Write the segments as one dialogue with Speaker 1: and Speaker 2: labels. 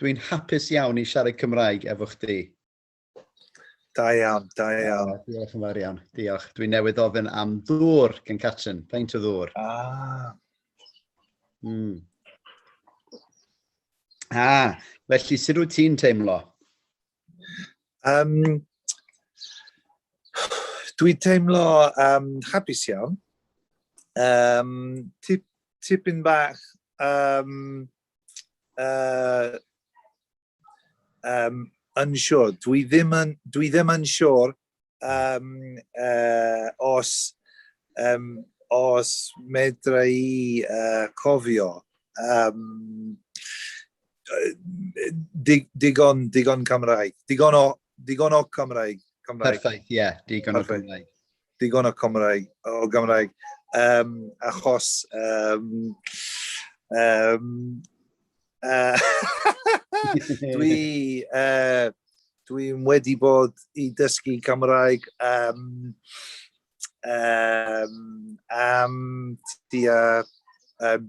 Speaker 1: Dwi'n hapus iawn i siarad Cymraeg efo chdi.
Speaker 2: Da iawn, da iawn. Oh, diolch yn fawr
Speaker 1: iawn, diolch. Dwi'n newydd ofyn am ddŵr gan Catrin, peint o ddŵr. Ah. Mm. Ah, felly, sut wyt ti'n teimlo? Um,
Speaker 2: dwi teimlo um, hapus iawn. Um, tip, tipyn bach um, uh, um, yn siŵr. Dwi ddim yn, dwi ddim yn siŵr um, uh, os, um, os medra i uh, cofio. Um, dig, digon, digon Cymraeg. Digon o, digon o Cymraeg. Cymraeg. Perffaith, ie. Yeah,
Speaker 1: digon Perffaith. o Cymraeg. digon o
Speaker 2: Cymraeg, o Gymraeg, um, achos... Um, um, uh, dwi... Uh, Dwi'n wedi bod i dysgu Cymraeg um, um, am tua um,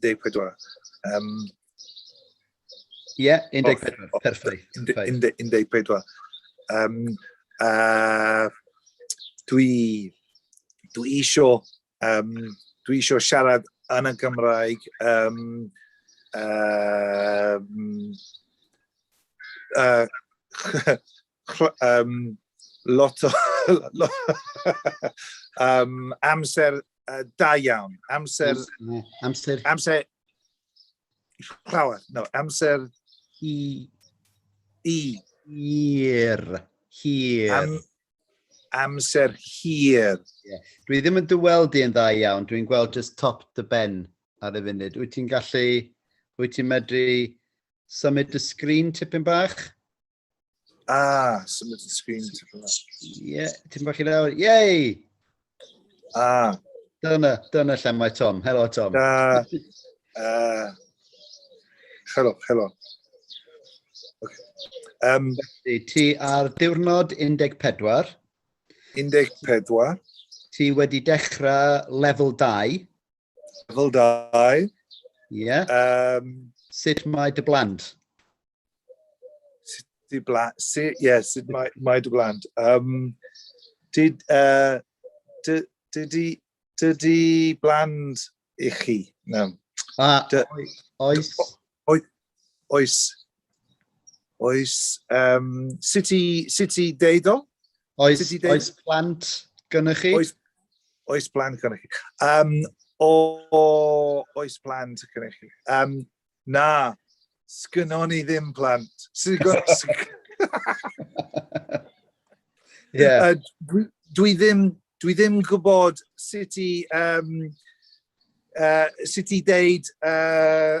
Speaker 1: 14. Um, Ie, yeah, 14, oh,
Speaker 2: perffaith. 14. Um, uh, dwi, dwi isio, um, dwi isio siarad yn y Gymraeg um, um, uh, um, lot o um, amser uh, da iawn. Amser... Amser... Amser... Llawer. No, amser... I... I.
Speaker 1: Hir. Hir. Am,
Speaker 2: amser hir. Yeah. Dwi ddim
Speaker 1: yn dyweld i'n dda iawn. Dwi'n gweld just top the ben ar y funud. Wyt ti'n gallu... Wyt ti'n medru symud y sgrin tipyn bach? Ah,
Speaker 2: symud y sgrin. Ie, ti'n bach i
Speaker 1: lawr. Yay! Ah. Dyna, dyna lle mae Tom. Helo, Tom. Ah.
Speaker 2: Uh, helo, helo. Okay.
Speaker 1: Um, ti ar diwrnod
Speaker 2: 14. 14. Ti
Speaker 1: wedi dechrau lefel 2. Lefel 2.
Speaker 2: Ie. Um,
Speaker 1: sut mae dy blant? Sut
Speaker 2: dy blant? Sut, ie, yeah, sut mae, mae dy blant? Um, did, uh, did, did, did, did bland i chi? No. Ah,
Speaker 1: oes. Oes, Oes.
Speaker 2: Oes. Um, sut, i, sut i deud o? Oes, deud... oes
Speaker 1: plant gynnwch chi? Oes, oes
Speaker 2: plant gynnwch chi. Um, o, o, oes plant gynnwch chi. Um, na, sgynnon ni ddim plant. yeah. dwi, dwi, ddim, dwi ddim gwybod sut i, um, uh, sut i deud uh,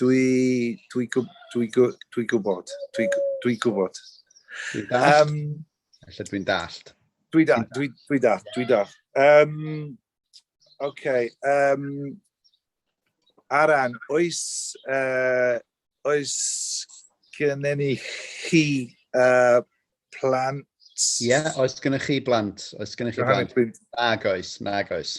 Speaker 2: Dwi, dwi, gwb, dwi, gwb, dwi gwybod. Dwi, dwi gwybod. Dwi'n dallt.
Speaker 1: Um, Felly dwi'n dallt. Dwi dallt, dwi, dwi
Speaker 2: dallt, dwi dallt. Um, okay. Um, Aran, oes, uh, oes gynnyn ni chi uh, plant? Ie,
Speaker 1: yeah, oes gynnyn chi blant? Oes gynnyn chi blant? Nag oes, nag oes.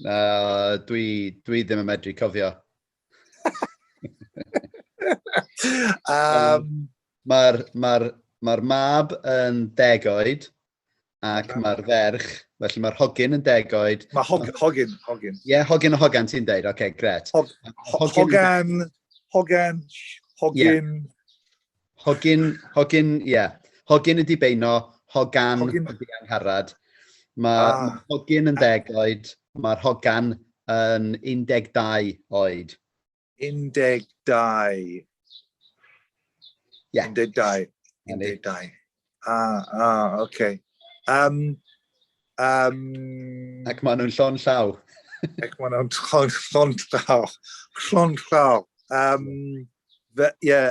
Speaker 2: Uh, dwi,
Speaker 1: dwi ddim yn medru cofio. um, Mae'r ma ma mab yn deg oed ac mae'r ferch, felly mae'r hogyn yn deg oed. Mae hog, hogyn,
Speaker 2: hogyn. Ie, yeah, hogyn o
Speaker 1: hogan ti'n deud, oce, okay, gret. Hog, hogan, hogan, hogyn. Yeah. Hogyn, hogyn, ie. Yeah. Hogyn y dibeino, hogan hogyn. y diangharad. Mae ah. ma hogyn yn ddeg oed, mae'r hogan yn 12 oed. 12. Yeah.
Speaker 2: 12. 12. Ah, ah, oce. Okay. Um, um,
Speaker 1: Ac maen nhw'n llon llaw. ac maen nhw'n
Speaker 2: llon, llon llaw. Llon llaw. Um, fe, yeah,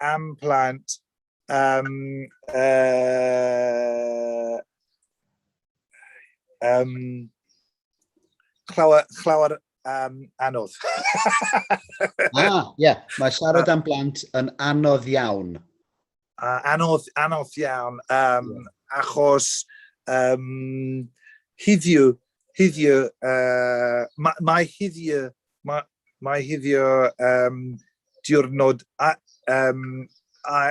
Speaker 2: am plant um, uh, um, chlawr, chlawr um, anodd. ah, ie.
Speaker 1: Yeah. Mae siarad am blant yn anodd iawn. Uh, anodd,
Speaker 2: anodd iawn. Um, yeah. Achos um, hiddiw, hiddiw, uh, mae, mae hiddiw Mae, mae hiddio um, diwrnod a, um, a,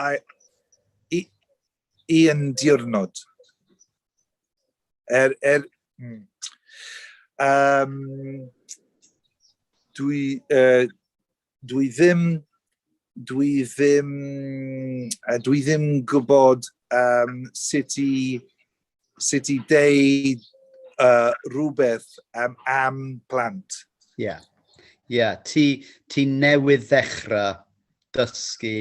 Speaker 2: a, i, i yn diwrnod. Er, er, mm. um, dwi, uh, Dwi ddim, dwi ddim, uh, dwi ddim gwybod um, sut i, sut i deud uh, rhywbeth um, am plant. Ie, yeah.
Speaker 1: ie. Yeah. Ti, ti newydd ddechrau dysgu...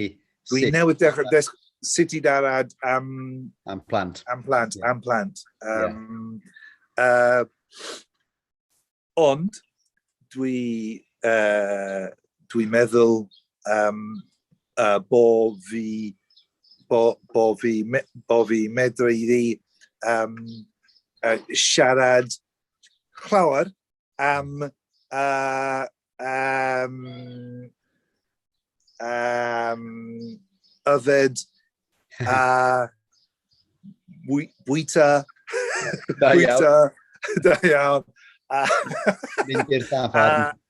Speaker 1: Dwi sut...
Speaker 2: newydd ddechrau dysgu sut i darad am... Am plant.
Speaker 1: Am plant, yeah. am plant. Um,
Speaker 2: yeah. uh, Ond, dwi, uh, dwi'n meddwl um, uh, bo fi, bo, bo fi, me, bo fi medru i um, uh, siarad llawer am uh, um, um, yfed a bwyta, bwyta, da iawn. A,
Speaker 1: Mynd i'r dafarn.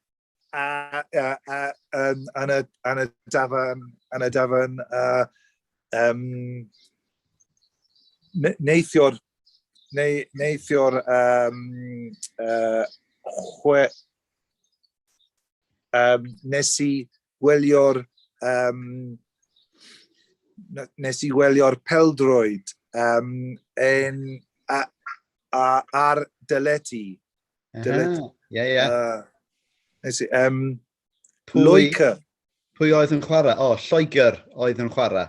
Speaker 1: A, a, a, a,
Speaker 2: um, an, y, an y dafarn, an y dafarn, a, um, neithio'r, neu, neithio'r, um, uh, chwe, um, nes i gwylio'r um, nes i wylio'r peldroed um, yn, a, a, ar dyleti. Dyleti. Ie, ie. Nes i, um, Pwy, Loica. Pwy oedd
Speaker 1: yn chwarae? O, oh, Lloegr oedd yn chwarae.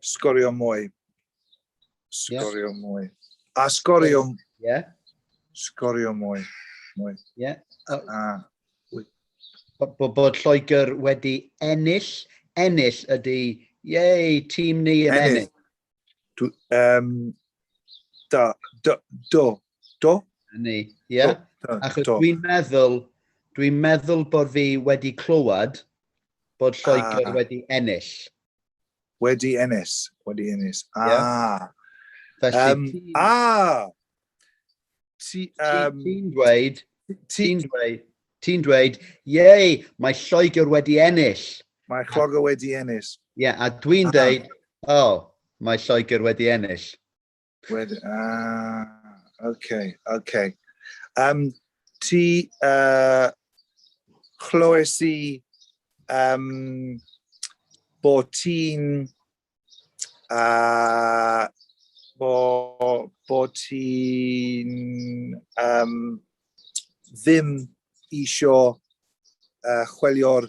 Speaker 2: Sgorio mwy. Sgorio yeah. mwy. A sgorio... Yeah.
Speaker 1: Sgorio
Speaker 2: mwy. Mwy. Yeah.
Speaker 1: Uh, a... Bod, bod Lloegr wedi ennill, ennill ydy, yei, tîm ni yn ennill. ennill. um, da,
Speaker 2: do, do, do? Ni, ie.
Speaker 1: Yeah. Achos dwi'n meddwl, dwi'n meddwl bod fi wedi clywed bod Lloegr ah. wedi ennill. Wedi
Speaker 2: ennill, wedi ennill. Ah! Yeah.
Speaker 1: Felly, um, ti... Ah! Ti, um, ti'n dweud, ti'n dweud, ti'n dweud, yei, mae Lloegr wedi ennill. Mae Lloegr
Speaker 2: wedi ennill. Ie, yeah, a dwi'n
Speaker 1: ah. dweud, oh, mae Lloegr wedi ennill. Wed, ah,
Speaker 2: okay, okay. Um, ti uh, chlywes i um, bo ti'n uh, bo, bo ti'n um, ddim isio uh, chwilio'r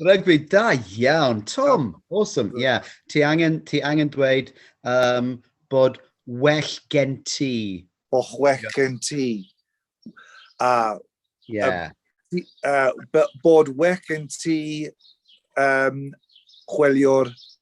Speaker 1: Rygbi, da iawn. Tom, awesome. Ie, yeah. ti, angen, ti angen dweud um, bod well gen ti. Bod well gen
Speaker 2: ti. A,
Speaker 1: yeah. um, uh,
Speaker 2: bod well gen ti um, chwilio'r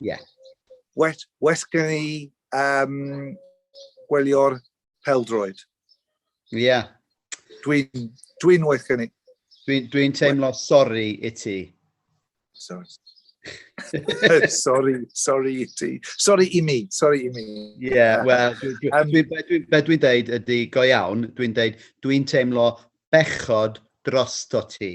Speaker 1: Yeah. Wet,
Speaker 2: wet gen i um, gwelio'r peldroed. Ie. Yeah.
Speaker 1: Dwi'n
Speaker 2: dwi wet gen i. Dwi'n dwi teimlo
Speaker 1: sori i ti. Sorry.
Speaker 2: sorry, sorry i ti. Sorry i mi, sorry i mi. Ie, yeah,
Speaker 1: wel, um, be dwi'n deud ydy, go iawn, dwi'n deud, dwi'n teimlo bechod drosto ti.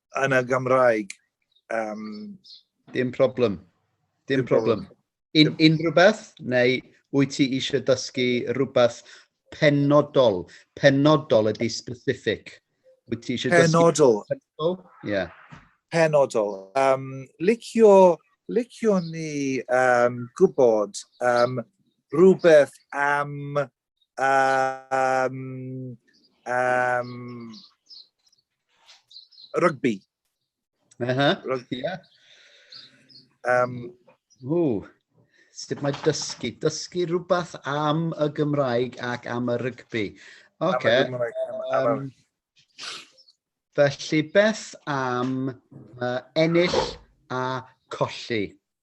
Speaker 2: yn y Gymraeg. Um,
Speaker 1: Dim problem. Dim, Dim problem. problem. Un, unrhyw beth, neu wyt ti eisiau dysgu rhywbeth penodol? Penodol ydy specific. Wyt ti eisiau penodol. dysgu penodol? Yeah. Penodol.
Speaker 2: Um, licio, licio ni um, gwybod um, rhywbeth am um, um, rygbi. Uh -huh.
Speaker 1: Rygbi. Yeah. Um, Ooh. Sut mae dysgu? Dysgu rhywbeth am y Gymraeg ac am y rygbi. Oce. Um, felly, beth am uh, ennill a colli?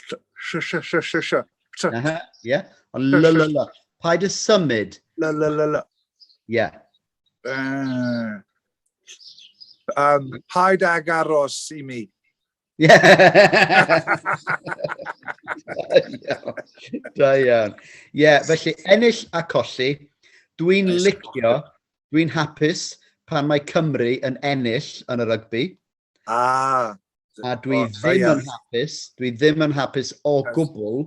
Speaker 1: Sio, sio, sio, sio, sio. Sio. Aha, ie. O, la, la, la, la. Paid y symud. La, la, la, la. Ie. Uh,
Speaker 2: um, paid ag aros i mi. Ie.
Speaker 1: Da iawn. Ie, felly ennill a colli. Dwi'n licio, dwi'n hapus pan mae Cymru yn ennill yn y rygbi. Ah! A dwi oh, ddim yn hapus, dwi ddim yn hapus o gwbl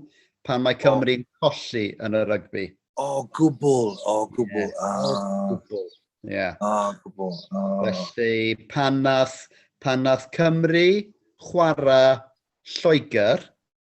Speaker 1: pan mae Cymru'n oh. colli yn y rygbi. O gwbl,
Speaker 2: o gwbl. Yeah. Ah. O gwbl.
Speaker 1: Yeah. O gwbl. Oh. Felly, pan nath, pan nath Cymru chwarae Lloegr,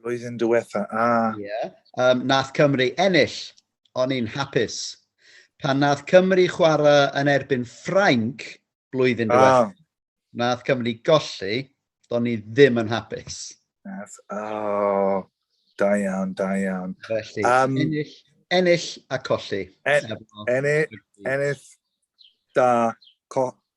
Speaker 1: Blwyddyn diwetha, a. Ie. Yeah. Um, nath Cymru ennill, o'n i'n hapus. Pan nath Cymru chwarae yn erbyn Ffrainc blwyddyn diwetha, ah. nath Cymru golli, do'n i ddim yn hapus. Nath, oh,
Speaker 2: da iawn, da iawn. Felly, um, ennill,
Speaker 1: ennill a colli. En, ennill,
Speaker 2: ennill, da, co,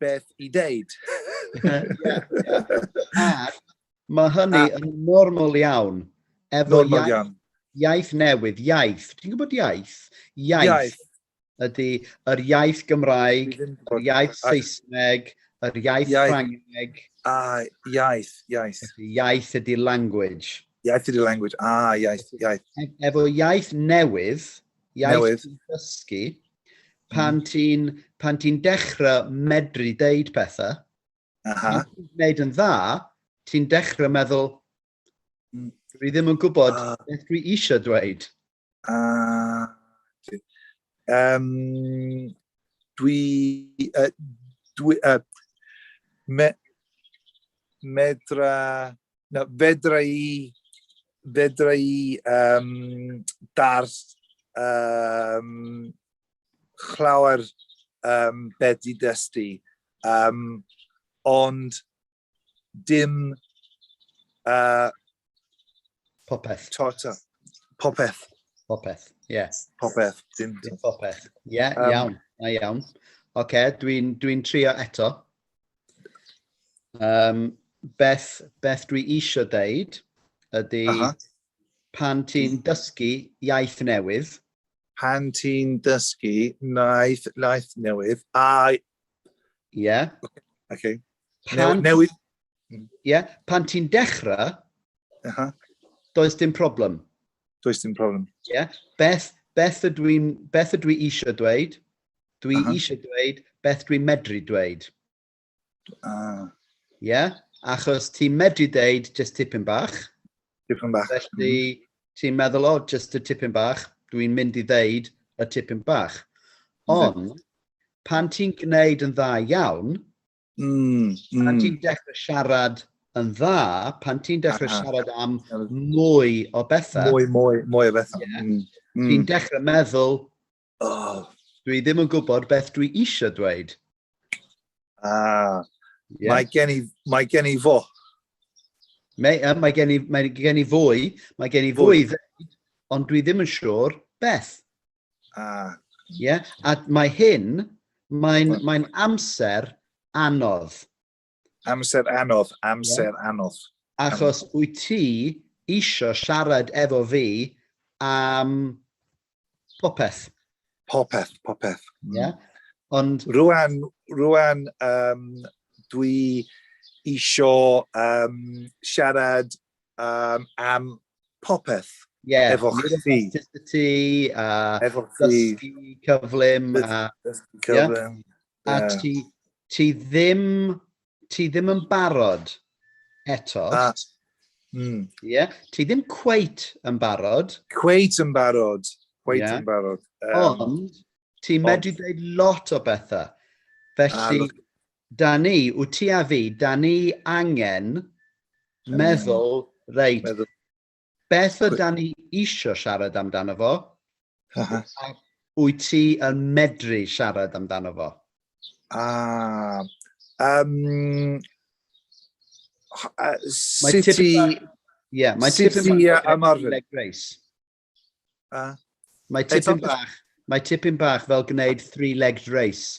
Speaker 2: beth i ddeud.
Speaker 1: Mae hynny yn normal iawn. Efo normal iaith, iawn. Iaith newydd, iaith. Ti'n gwybod iaith? Iaith. iaith. Ydy yr iaith Gymraeg, yr iaith Saesneg, yr iaith, iaith. Ffrangeg. A, iaith,
Speaker 2: iaith. Iaith
Speaker 1: ydy language. Iaith ydy language,
Speaker 2: a, iaith, iaith. E-,
Speaker 1: efo iaith newydd, Iaith Newydd. dysgu. Pan mm. ti'n pan ti'n dechrau medru deud pethau, Aha. ti'n gwneud yn dda, ti'n dechrau meddwl, mm. dwi ddim yn gwybod uh, beth dwi eisiau dweud. Uh, um, dwi, uh, dwi, uh,
Speaker 2: me, medra Na, fedra i, fedra i um, dars um, chlawr um, beth i dystu, um, ond dim uh, popeth.
Speaker 1: Tota, popeth. Popeth, ie. Yeah. Popeth.
Speaker 2: Dim, dim popeth. Ie,
Speaker 1: yeah, um, iawn. Na iawn. Oce, okay, dwi'n dwi trio eto. Um, beth, beth dwi eisiau deud ydy uh -huh. pan ti'n dysgu iaith newydd. Pan
Speaker 2: ti'n dysgu naeth, naeth newydd, a... Ie. Yeah. Okay.
Speaker 1: okay.
Speaker 2: Pan, newydd.
Speaker 1: Ie, yeah. pan ti'n dechrau, uh -huh. does dim problem. Does dim problem.
Speaker 2: Ie. Yeah. Beth,
Speaker 1: beth ydw i'n beth ydw i eisiau dweud Dwi Aha. eisiau dweud beth dwi'n medru dweud. Ah. Ie? Yeah? Achos ti'n medru dweud just tipyn bach. Tipyn bach.
Speaker 2: Felly mm. ti'n
Speaker 1: meddwl, o, oh, just y tipyn bach, dwi'n mynd i ddeud y tipyn bach. Ond, pan ti'n gwneud yn dda iawn, mm, mm. pan ti'n dechrau siarad yn dda, pan ti'n dechrau Aha. siarad am mwy o bethau. Mwy, mwy, mwy o bethau.
Speaker 2: Yeah, mm. Ti'n mm. dechrau
Speaker 1: meddwl, Oh, dwi ddim yn gwybod beth dwi eisiau dweud. Ah,
Speaker 2: yeah. mae, gen i, mae gen i fo. Mae,
Speaker 1: um, mae, gen i, mae gen i fwy, mae gen i fwy, fwy. ond dwi ddim yn siŵr beth. Ah. Yeah? A mae hyn, mae'n mae amser anodd. Amser
Speaker 2: anodd, amser yeah. anodd. Achos
Speaker 1: um, wyt ti eisiau siarad efo fi am popeth. Popeth,
Speaker 2: popeth. Mm. Yeah.
Speaker 1: Ond... Rwan,
Speaker 2: rwan um, dwi eisiau um, siarad um, am popeth yeah, efo chdi.
Speaker 1: Authenticity,
Speaker 2: a
Speaker 1: efo dysgu cyflym. A, dysgu cyflym. Yeah. A ti, ti, ddim, ti ddim yn barod eto. A, mm. yeah. Ti ddim cweit yn barod. Cweit yn barod.
Speaker 2: Cweit yeah. yn barod. Um, Ond,
Speaker 1: ti'n medru dweud lot o bethau. Felly, Da ni, wyt ti a fi, da ni angen meddwl, reit, meddwl. beth y da ni eisiau siarad amdano fo, a wyt ti yn medru siarad amdano fo? Ah, um, mae sut i... Ie, mae tipyn bach yn ymarfer. Leg race. Mae tipyn bach, mae tipyn bach fel gwneud three-legged race.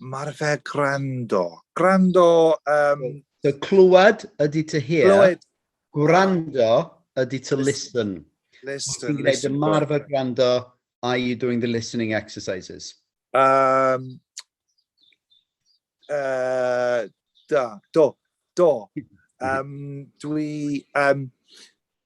Speaker 1: Mae'r
Speaker 2: ferf gwrando. Gwrando... Um... So,
Speaker 1: clywed ydy to hear. Clywed. Gwrando ydy to listen. Listen. Ti'n gwneud
Speaker 2: ymarfer
Speaker 1: gwrando, are you doing the listening exercises? Um, uh,
Speaker 2: da, do, do. Um, dwi, um,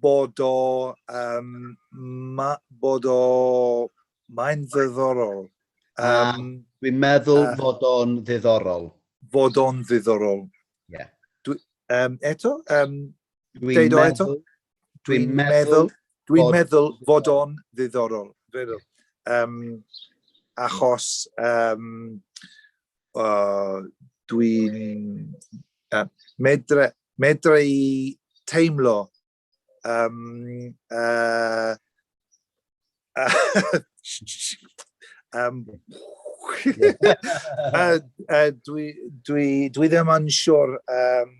Speaker 2: bod o um, ma, bod o mae'n ddiddorol. Um,
Speaker 1: Dwi'n meddwl uh, fod o'n ddiddorol. Fod o'n
Speaker 2: ddiddorol. Yeah.
Speaker 1: Dwi, um,
Speaker 2: eto? Um, dwi'n meddwl,
Speaker 1: dwi meddwl, dwi meddwl fod o'n
Speaker 2: ddiddorol. Um, achos um, uh, dwi'n uh, medra, medra i teimlo um, uh, uh, um, uh, uh, dwi, dwi, dwi ddim yn siwr um,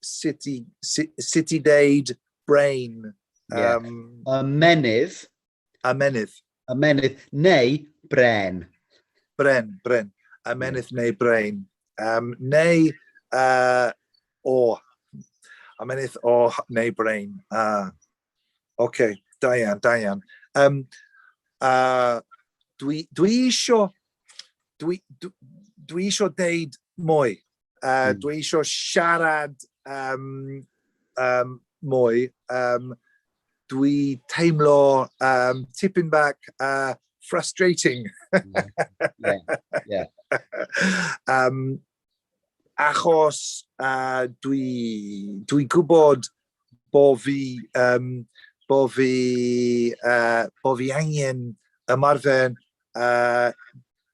Speaker 2: sut i, sut i deud brain. Um, yeah. uh, menydd.
Speaker 1: Amenydd. Amenydd
Speaker 2: neu
Speaker 1: bren. Bren, bren.
Speaker 2: Amenydd neu bren. Um, neu uh, o. Amenydd o neu bren. Uh, OK, da iawn, da iawn. Um, uh, dwi, dwi isio, dwi, dwi, dwi isio deud mwy. Uh, mm. Dwi eisiau siarad um, um, mwy. Um, dwi teimlo um, tipyn bach uh, frustrating.
Speaker 1: yeah, yeah,
Speaker 2: yeah. um, achos uh, dwi, dwi gwybod bo fi, um, bo fi, uh, bo fi angen ymarfer uh,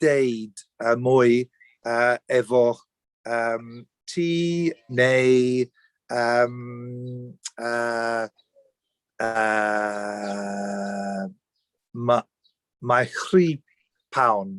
Speaker 2: deud uh, mwy uh, efo um, ti neu um, uh, uh, mae ma chri pawn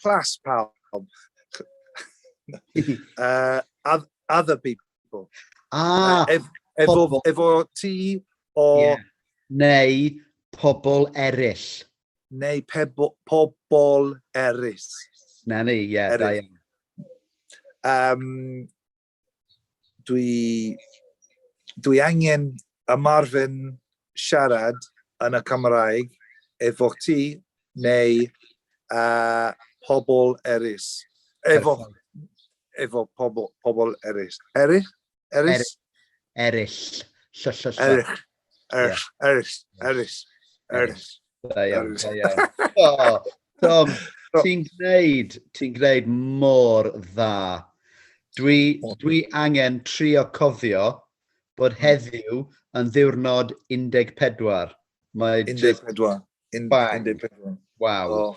Speaker 2: Clas pawb. uh, other people. Ah, uh, efo, efo ti o... Yeah. Neu
Speaker 1: pobl eraill. Neu
Speaker 2: pebo, pobl eraill. Na ni, ie,
Speaker 1: yeah, da iawn. Um,
Speaker 2: dwi, dwi angen ymarfer siarad yn y Cymraeg efo ti neu uh, pobl erys. Efo, efo pobl, pobl erys. Erys? Erys?
Speaker 1: Eryll. Erys. Erys.
Speaker 2: Erys, erys, erys,
Speaker 1: erys. Da iawn, da iawn. Oh, Tom, ti'n gwneud, ti'n gwneud mor dda. Dwi, dwi angen trio cofio bod hmm. heddiw yn ddiwrnod 14. Mae 14.
Speaker 2: 14.
Speaker 1: Wow. Oh.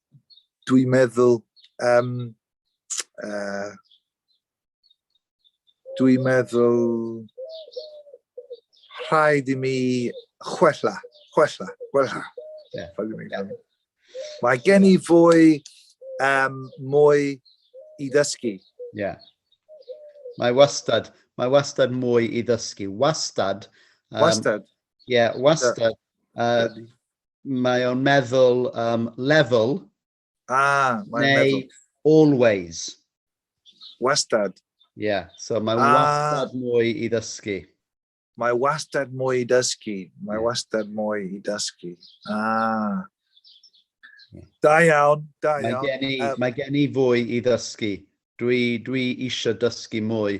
Speaker 2: dwi'n meddwl, um, uh, dwi'n meddwl rhaid i mi chwella, chwella, chwella.
Speaker 1: Yeah.
Speaker 2: Yeah. Mae gen i fwy, um, mwy i ddysgu. Yeah.
Speaker 1: Mae wastad, mae wastad mwy i ddysgu. Wastad. Um, wastad. Ie, yeah, wastad. Uh, Mae o'n meddwl um, level. Ah, mae'n meddwl. Neu always.
Speaker 2: Wastad. Ie, yeah,
Speaker 1: so mae ah. wastad mwy i ddysgu. Mae
Speaker 2: wastad mwy i dysgu. Mae wastad mwy i dysgu. Ah. Da iawn, da iawn. Mae gen i, um, mae
Speaker 1: gen i fwy i ddysgu. Dwi, dwi eisiau dysgu mwy.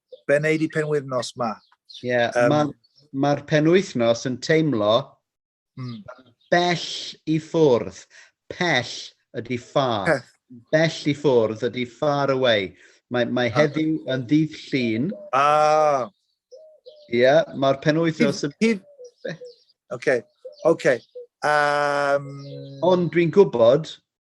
Speaker 2: Be wneud di penwythnos ma? Ie, yeah, um,
Speaker 1: mae'r ma penwythnos yn teimlo mm. bell i ffwrdd. Pell ydy far. Peth. Bell i ffwrdd ydy far away. Mae, mae ah. heddiw yn ddydd llun. Ah. Ie, yeah, mae'r penwythnos yn... Hyd... Oce, okay. oce. Okay.
Speaker 2: Um...
Speaker 1: Ond dwi'n gwybod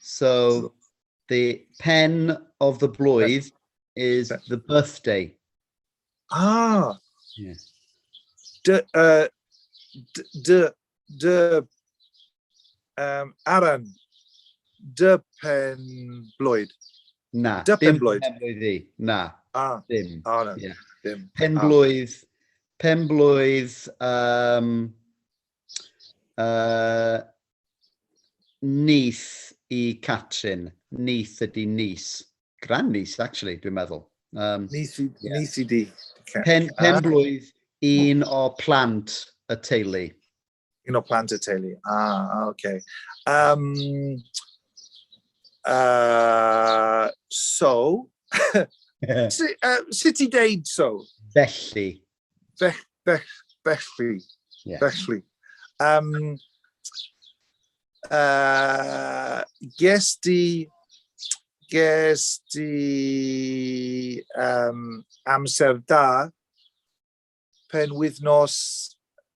Speaker 1: So, the pen of the blwydd is the birthday. Ah!
Speaker 2: Yeah. Dy, uh, dy, dy, um, Aran, dy pen blwydd. Na,
Speaker 1: dy
Speaker 2: pen
Speaker 1: blwydd. Pen blwydd i. Na, ah. dim. Ah, no. yeah. dim. Pen ah. blwydd, pen blwydd, um, Uh, neith i Catrin. Neith ydi nis. Grand nis, actually, dwi'n meddwl. Um, neith, yeah.
Speaker 2: neith i di. Pen, pen blwydd
Speaker 1: un o plant y teulu. Un o plant
Speaker 2: y teulu. Ah, oce. Okay. Um, uh, so, sut i deud so? Felly.
Speaker 1: Bech,
Speaker 2: bech, bechli. Yeah. Bechli.
Speaker 1: Um,
Speaker 2: uh, ges di ges di um, amser da pen wythnos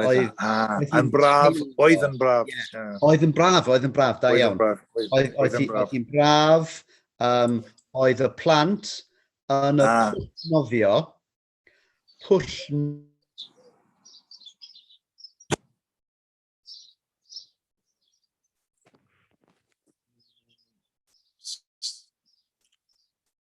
Speaker 1: Oedd,
Speaker 2: yn braf, oedd yn braf. Oedd yn braf, oedd yn
Speaker 1: braf, da iawn. Oedd hi'n braf, oedd y plant yn y ah. pwll nofio, pwll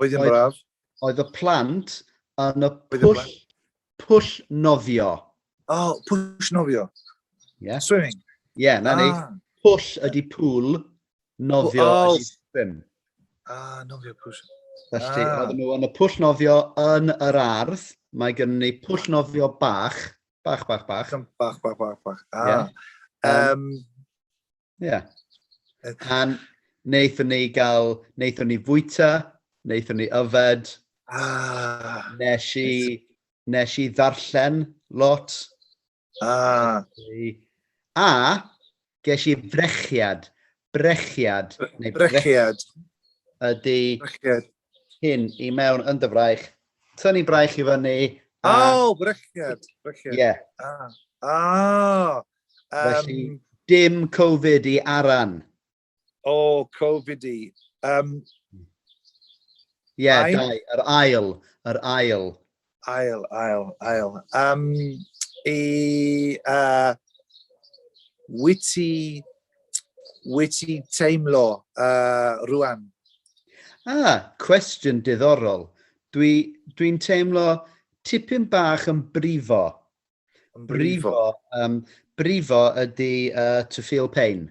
Speaker 1: Oedd yn
Speaker 2: braf. Oedd y plant
Speaker 1: yn y pwll, pwll nofio. O, oh, pwll
Speaker 2: nofio. Yeah.
Speaker 1: Swimming. Ie,
Speaker 2: yeah, na ah.
Speaker 1: ni. Pwll ydi pŵl, nofio oh. ydi swim. Ah,
Speaker 2: nofio pwll. Felly, ah. oedden
Speaker 1: nhw yn y pwll nofio yn yr ardd. Mae gen ni pwll nofio bach. Bach, bach, bach. Bach,
Speaker 2: bach, bach, bach. Ah. Yeah. Um,
Speaker 1: um, Ie. Yeah. A wnaethon ni gael, wnaethon ni fwyta, wnaethon ni yfed, ah, nes i, nes i ddarllen lot. Ah. A, ges i frechiad, brechiad, neu brechiad, ydy brechiad. hyn i mewn yn dy fraich, tynnu braich i fyny. A... O, oh, brechiad,
Speaker 2: brechiad. Ie. Yeah.
Speaker 1: Ah. Ah. Um, Felly, dim Covid i Aran. O, oh,
Speaker 2: Covid i. Um,
Speaker 1: Ie, yeah, dau, yr ail, yr ail. Ail,
Speaker 2: ail, ail. Um, e, uh, wyt ti, wyt ti teimlo uh, rwan? Ah,
Speaker 1: cwestiwn diddorol. Dwi'n dwi, dwi teimlo tipyn bach yn brifo. Yn brifo? brifo, um, brifo ydy uh, to feel pain.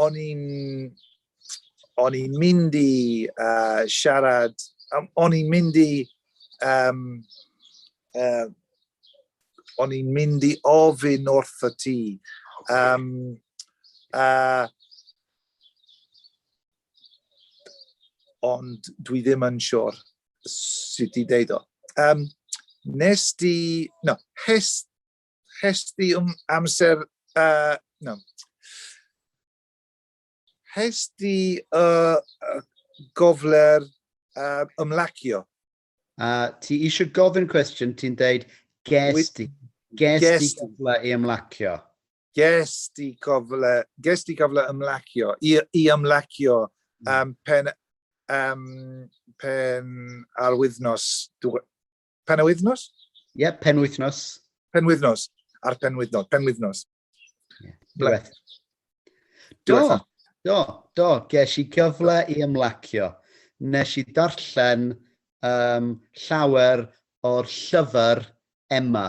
Speaker 2: o'n i'n o'n i'n mynd i uh, siarad, o'n i'n mynd i, um, uh, o'n i'n mynd i ofyn wrth y ti. Um, uh, ond dwi ddim yn siwr sut i ddeud o. Um, nes di, no, hes Hes di um amser... Uh, no. Hes di uh, gofler uh, ymlacio? Uh,
Speaker 1: ti eisiau gofyn cwestiwn, ti'n deud ges di, ges di gofle i ymlacio? Ges di
Speaker 2: gofle, ges di gofle ymlacio, i, i ymlacio um, pen, um, pen ar wythnos Penwythnos? Ie, yeah, penwythnos.
Speaker 1: Penwythnos.
Speaker 2: A'r penwythnos. Penwythnos.
Speaker 1: Yeah. Bleth.
Speaker 2: Do, do,
Speaker 1: do. Ges i gyfle i ymlacio. Nes i darllen um, llawer o'r llyfr Emma.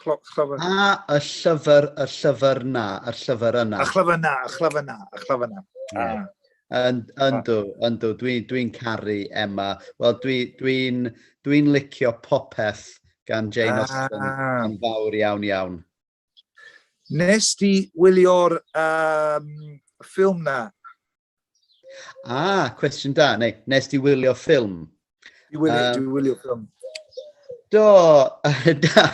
Speaker 2: Chlafyr. A, y
Speaker 1: llyfr, y llyfr na, y llyfr yna. Y llyfr na, y
Speaker 2: llyfr
Speaker 1: na, y
Speaker 2: llyfr na. Yeah. Yndw,
Speaker 1: yndw, dwi'n dwi caru Emma. Wel, dwi'n dwi, dwi licio popeth gan Jane Austen ah. yn fawr iawn iawn.
Speaker 2: Nes di wylio'r um, ffilm na, Ah,
Speaker 1: cwestiwn da, neu nes di wylio ffilm? Dwi wylio, um, dwi
Speaker 2: wylio ffilm. Do,
Speaker 1: da,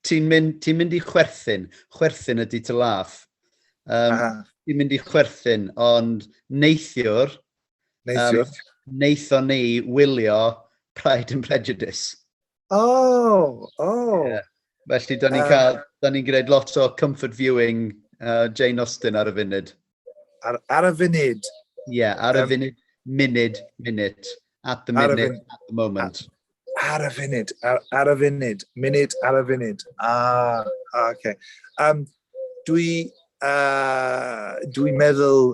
Speaker 1: ti'n mynd, ti mynd i chwerthin, chwerthin ydy to laugh. Um, ah. ti'n mynd i chwerthin, ond neithiwr, neithiwr. Um, neithon ni wylio Pride and Prejudice. O! O!
Speaker 2: Ie. Felly, da ni'n
Speaker 1: cael, da ni'n gwneud lot o comfort viewing uh, Jane Austen ar y funud. Ar, ar
Speaker 2: y funud? Ie, yeah, ar y um,
Speaker 1: funud, munud, minute, at the minute, at the moment. Ar, y funud,
Speaker 2: ar, ar y funud, munud ar y funud. Ah, ah okay. Um, dwi, uh, dwi meddwl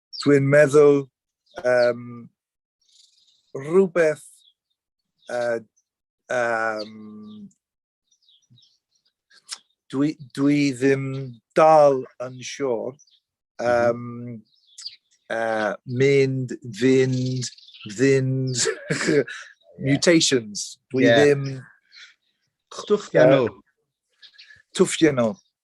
Speaker 2: Dwi'n meddwl um, rhywbeth uh, um, dwi, dwi ddim dal yn siwr um, uh, mynd, fynd, fynd, mutations. Dwi yeah. ddim... Twffiano. Uh, twffiano.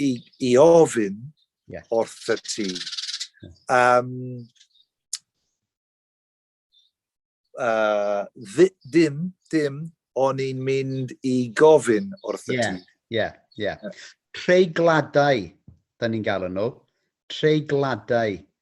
Speaker 2: i, i ofyn yeah. wrth y ti. Um, uh, dim, dim, o'n i'n mynd i gofyn wrth y yeah. ti. Ie, yeah, ie. Yeah.
Speaker 1: Treigladau, da ni'n gael nhw. Treigladau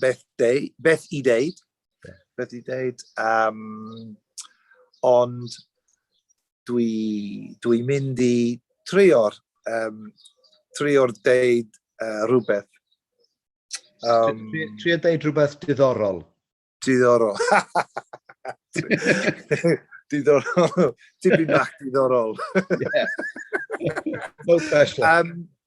Speaker 2: beth, deu, beth i ddeud, beth i ddeud, um, ond dwi, dwi mynd i trio'r um, trio'r deud uh, rhywbeth. Um,
Speaker 1: trio deud rhywbeth diddorol. Diddorol.
Speaker 2: diddorol. Tipyn bach diddorol.
Speaker 1: yeah. No special. Um,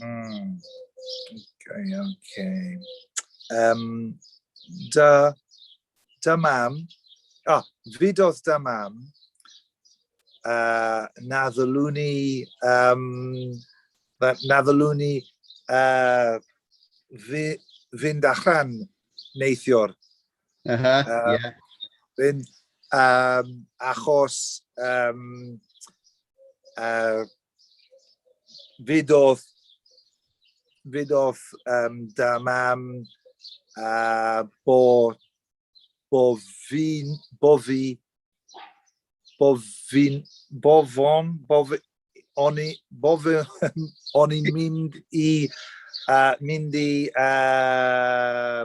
Speaker 2: Mm. Okay, okay. Um, da, da mam, oh, fidodd da mam, uh, na ddylwn i, um, na, na ddylwn i uh, fi, fynd allan neithiwr. Uh -huh,
Speaker 1: um, yeah. Fynd,
Speaker 2: um, achos um, uh, fyd oedd fyd oedd um, da mam a bo, bo fi, bo fi, bo fi, bo fon, bo fi, o'n i, bo fi, o'n i'n mynd i, uh, mynd i, uh,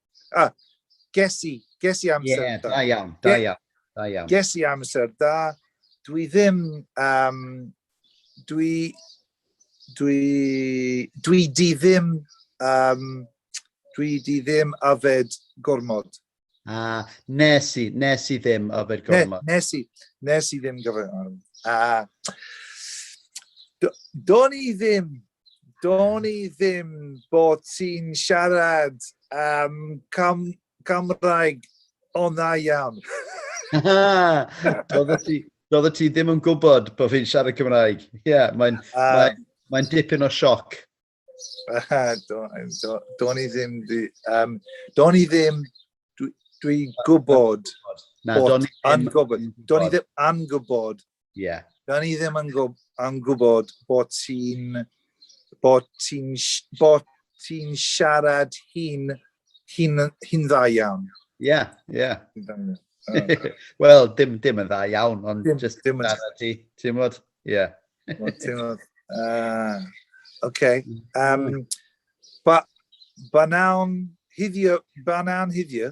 Speaker 2: Ah, ges i, ges i amser yeah, da. da iawn, da iawn,
Speaker 1: da iawn. Ges i
Speaker 2: amser da. Dwi ddim, um, dwi, dwi, dwi di ddim, um, dwi di ddim afed gormod. A
Speaker 1: nes i, nes i ddim yfed gormod. Ne, nes i, nes
Speaker 2: i ddim gyfer... A, do'n i ddim do'n i ddim bod ti'n siarad um, cam, Cymraeg o dda iawn. Doedd
Speaker 1: ti, doedd ti ddim yn gwybod bod fi'n siarad Cymraeg. Ie, yeah, mae'n uh, ah. mae, mae dipyn o sioc. Uh, do'n
Speaker 2: do, do i ddim, um, do'n i ddim, dwi'n dwi gwybod, na, do'n i ddim yn gwybod, Ie. Da ni
Speaker 1: ddim yn
Speaker 2: gwb, am gwybod bod ti'n bod ti'n bod ti'n siarad hi'n hi'n hi'n dda iawn. Ie, yeah, ie. Yeah.
Speaker 1: Oh. Wel, dim, dim yn dda iawn, ond dim, just dim yn dda ti, ti'n bod? Ie. Ti'n bod? Ah,
Speaker 2: oce. Um, ba, ba nawn hiddio, ba nawn hiddio,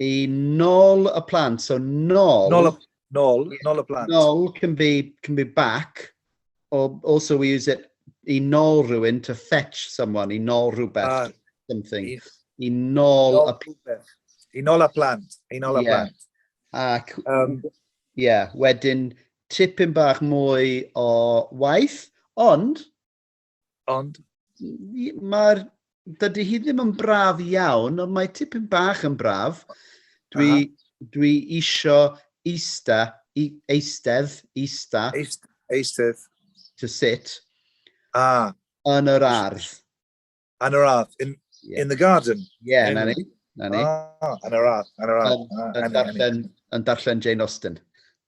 Speaker 1: I nol y plant, so nol... Nol y, nol, yeah,
Speaker 2: nol y plant. Nol can be,
Speaker 1: can be back, or also we use it i nol rhywun to fetch someone, i nol rhywbeth, ah, something. I, i nol, nol y plant. I
Speaker 2: nol y plant, i nol y yeah.
Speaker 1: plant. Ac, um, yeah, wedyn tipyn bach mwy o waith, ond Ond mae'r... Dydy hi ddim yn braf iawn, ond mae tipyn bach yn braf. Dwi, uh -huh. dwi isio eista, i, eistedd, eista. Eist, eistedd. To sit. Ah. Yn yr ardd. Yn yr
Speaker 2: ardd. In, yeah. in the garden. Yeah, in... na ni.
Speaker 1: Na ni. Ah,
Speaker 2: yn yr ardd. Yn yr ardd. Yn, ah, yn, darllen,
Speaker 1: yn darllen Jane Austen.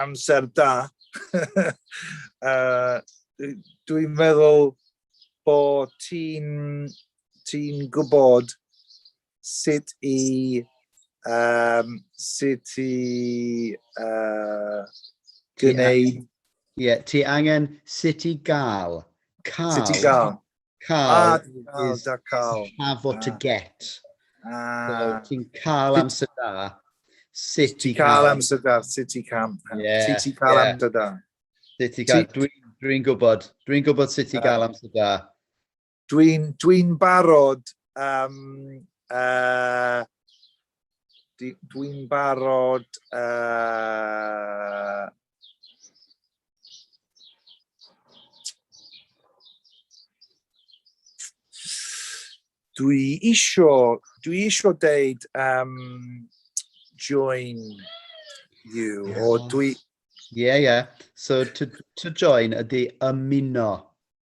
Speaker 2: amser da. uh, Dwi'n meddwl bod ti'n ti gwybod sut i um, sut i uh, gwneud... Ie, yeah, ti
Speaker 1: angen sut i gael. Cael. Sut i
Speaker 2: gael. Cael is have what
Speaker 1: to get. Ah. Ti'n cael amser da. Sut i cael amser da, sut
Speaker 2: i
Speaker 1: cam.
Speaker 2: Sut i cael amser da. Sut i cael,
Speaker 1: dwi'n gwybod, dwi'n gwybod sut i cael amser da. Dwi'n
Speaker 2: dwi barod, um, uh, dwi'n barod, uh, Dwi isio, dwi isio deud um, join you, yeah. o dwi... Ie, yeah, ie. Yeah.
Speaker 1: So, to, to join ydy ymuno.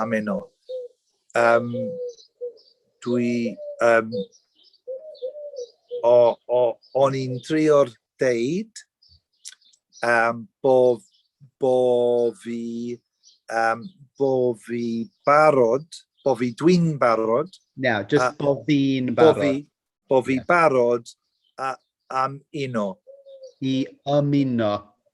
Speaker 1: am enw.
Speaker 2: Um, dwi... Um, o, o, o'n i'n drio'r deud um, bo, bo fi um, bo fi barod, bo fi dwi'n barod. Now, just uh, bo
Speaker 1: fi'n barod. Bo fi, bo fi yeah.
Speaker 2: barod a, am uno. I
Speaker 1: ymuno.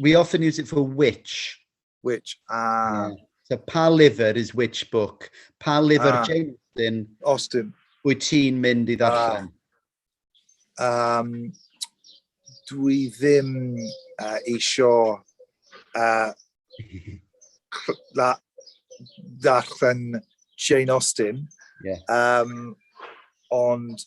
Speaker 1: We often use it for which. Which, ah.
Speaker 2: Yeah.
Speaker 1: So pa lyfr is which book? Pa lyfr ah. Jane Austen? Austen.
Speaker 2: Wyt ti'n
Speaker 1: mynd i ddarllen? Ah. Um,
Speaker 2: dwi ddim uh, eisiau uh, ddarllen Jane Austen. Yeah. Um, ond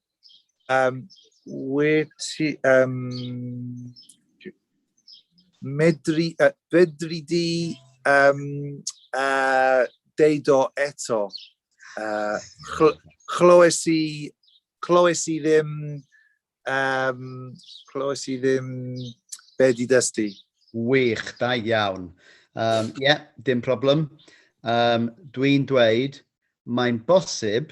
Speaker 2: Um, wyt ti... Um, medru, uh, medru di um, uh, deud o eto. Uh, chlywes i, chlywes i ddim, um, chlywes i ddim be di dystu. Wych, da
Speaker 1: iawn. Ie, um, yeah, dim problem. Um, Dwi'n dweud, mae'n bosib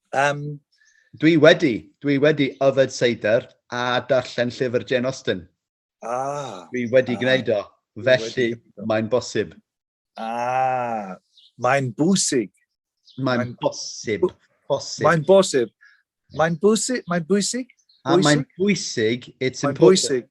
Speaker 2: Um,
Speaker 1: dwi wedi, dwi wedi yfed seidr a darllen llyfr Jane Austen. Ah. Dwi wedi ah, gwneud o, felly mae'n bosib. Ah,
Speaker 2: mae'n bwysig. Mae'n
Speaker 1: bosib. Bosib. Mae'n
Speaker 2: bosib. Mae'n bwysig. Mae'n bwysig. A mae'n
Speaker 1: bwysig. It's important. Bwysig.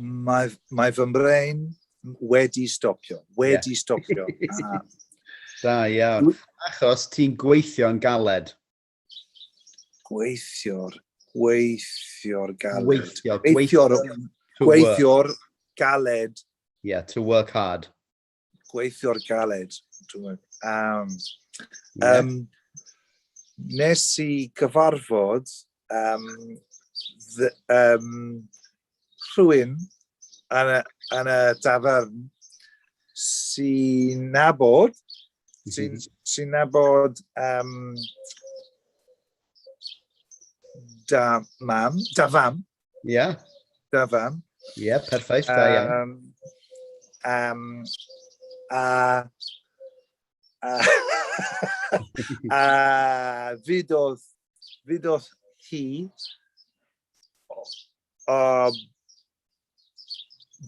Speaker 1: mae,
Speaker 2: mae fy mrein wedi stopio, wedi yeah. stopio. Ah.
Speaker 1: Da iawn. Achos ti'n gweithio'n galed. Gweithio'r,
Speaker 2: gweithio'r galed. Gweithio, gweithio'r,
Speaker 1: gweithio'r galed.
Speaker 2: Yeah, to work
Speaker 1: hard. gweithio'r
Speaker 2: galed, dwi'n meddwl. Um, yeah. um, nes i gyfarfod um, the, um, rhywun yn y, yn y dafern sy'n nabod, mhm. sy'n sy nabod um, da mam, da fam, Ie. Yeah. Da fam. Ie,
Speaker 1: yeah, perffaith, da iawn. Um, um, a... A...
Speaker 2: a... Fydodd... Fydodd hi... O...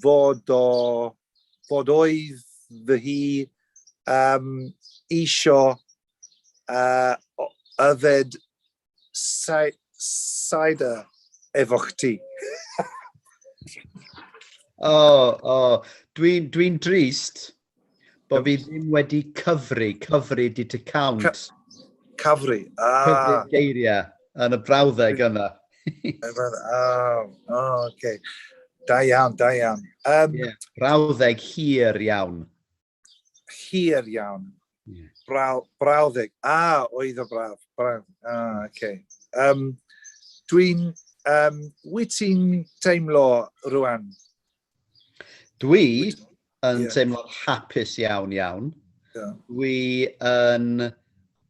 Speaker 2: Fod o... Fod oedd fy hi... Um, isio... Uh, yfed cider efo chdi. o, oh, o.
Speaker 1: Oh. Dwi'n dwi drist bod fi ddim wedi cyfri, cyfri di to count. Ca cyfri,
Speaker 2: a. Ah. Cyfri geiriau
Speaker 1: yn y brawddeg yna. oh, oh,
Speaker 2: okay. Da iawn, da iawn. Um, yeah,
Speaker 1: brawddeg hir iawn.
Speaker 2: hir iawn. Yeah. Braw, brawddeg. A, ah, oedd o braf. Braw. Ah, oce. Okay. Um, Dwi'n... Um, wyt ti'n teimlo rwan?
Speaker 1: Dwi yn yeah. teimlo hapus iawn iawn. Yeah. Dwi yn...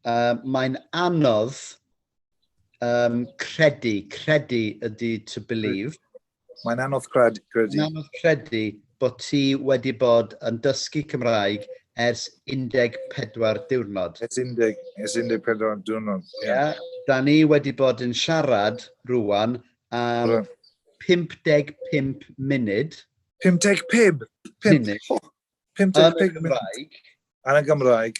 Speaker 1: Uh, Mae'n anodd um, credu, credu ydy to believe. Mae'n anodd
Speaker 2: credu. Mae'n anodd credu
Speaker 1: bod ti wedi bod yn dysgu Cymraeg ers 14 diwrnod. Ers 14 diwrnod,
Speaker 2: ie. Yeah. Yeah. Da ni
Speaker 1: wedi bod yn siarad rwan am 55 munud. 55? 55
Speaker 2: munud. Yn y Gymraeg. Yn y Gymraeg.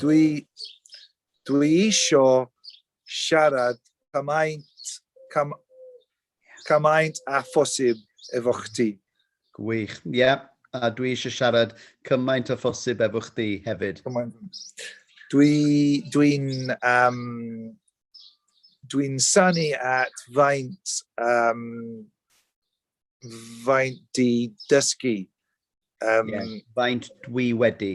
Speaker 1: Dwi,
Speaker 2: dwi isio siarad cymaint, cam, cymaint a phosib efo chdi. Gwych, ie.
Speaker 1: Yeah. A dwi eisiau siarad cymaint a phosib efo chdi hefyd. Dwi'n dwi um,
Speaker 2: dwi sanu at faint, um, faint di dysgu. Um,
Speaker 1: yeah. Faint dwi wedi.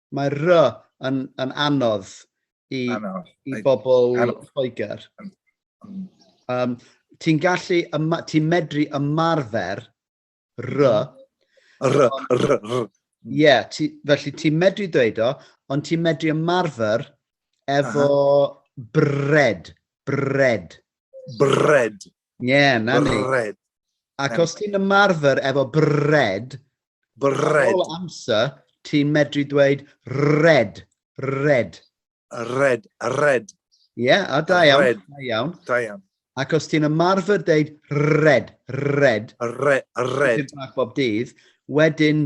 Speaker 1: Mae R yn, yn anodd i, anodd. i bobl Lloegr. Um, ti'n gallu, ti'n medru ymarfer R. R, R, R. Ie, felly ti'n medru dweud o, ond ti'n medru ymarfer efo uh -huh. bred. Bred. Bred. Ie, yeah, na ni. Bred. Ac os ti'n ymarfer efo bred, bred. Ar ôl amser, ti'n medru dweud red, red. Red, red. Ie, yeah, a da iawn. Red. Da iawn. Da iawn. Ac os ti'n ymarfer deud red, red. Red, red. Ti'n bach bob dydd. Wedyn,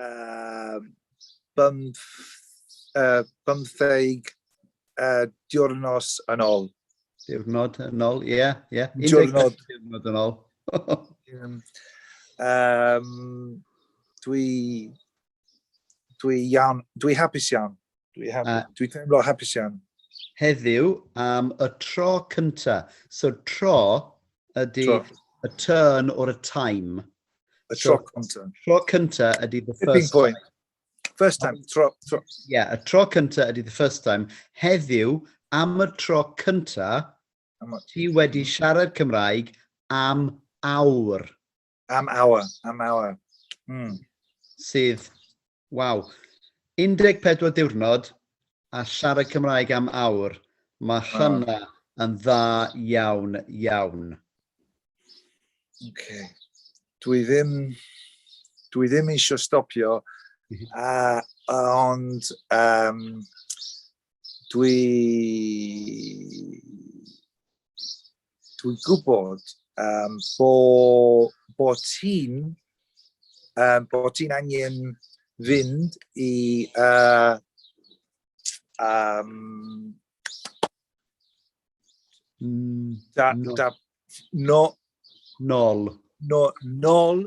Speaker 2: uh, bymth, uh, bymtheg uh, diwrnos yn ôl. Diwrnod yn
Speaker 1: ôl, ie. Yeah, yeah. Diwrnod.
Speaker 2: Diwrnod yn ôl.
Speaker 1: um, dwi,
Speaker 2: dwi, iawn, dwi hapus iawn. Dwi hapus. Uh, Dwi teimlo hapus iawn. Heddiw
Speaker 1: am y tro cynta. So tro ydy tro. y turn or a time. Y so, tro
Speaker 2: cynta. Tro cynta
Speaker 1: ydy the Tipping first point. time. First time,
Speaker 2: tro, tro. Yeah, y tro
Speaker 1: cynta ydy the first time. Heddiw am y tro cynta, ti wedi siarad Cymraeg am awr. Am
Speaker 2: awa, am awa. Mm.
Speaker 1: Sydd, waw, 14 diwrnod a siarad Cymraeg am awr. Mae hynna oh. yn dda iawn, iawn. Okay.
Speaker 2: Dwi ddim, dwi ddim eisiau stopio, uh, ond um, dwi... dwi'n gwybod um, bo, bo ti'n um, bo ti'n angen fynd i uh, um, da, no. da, no, nol. No, nol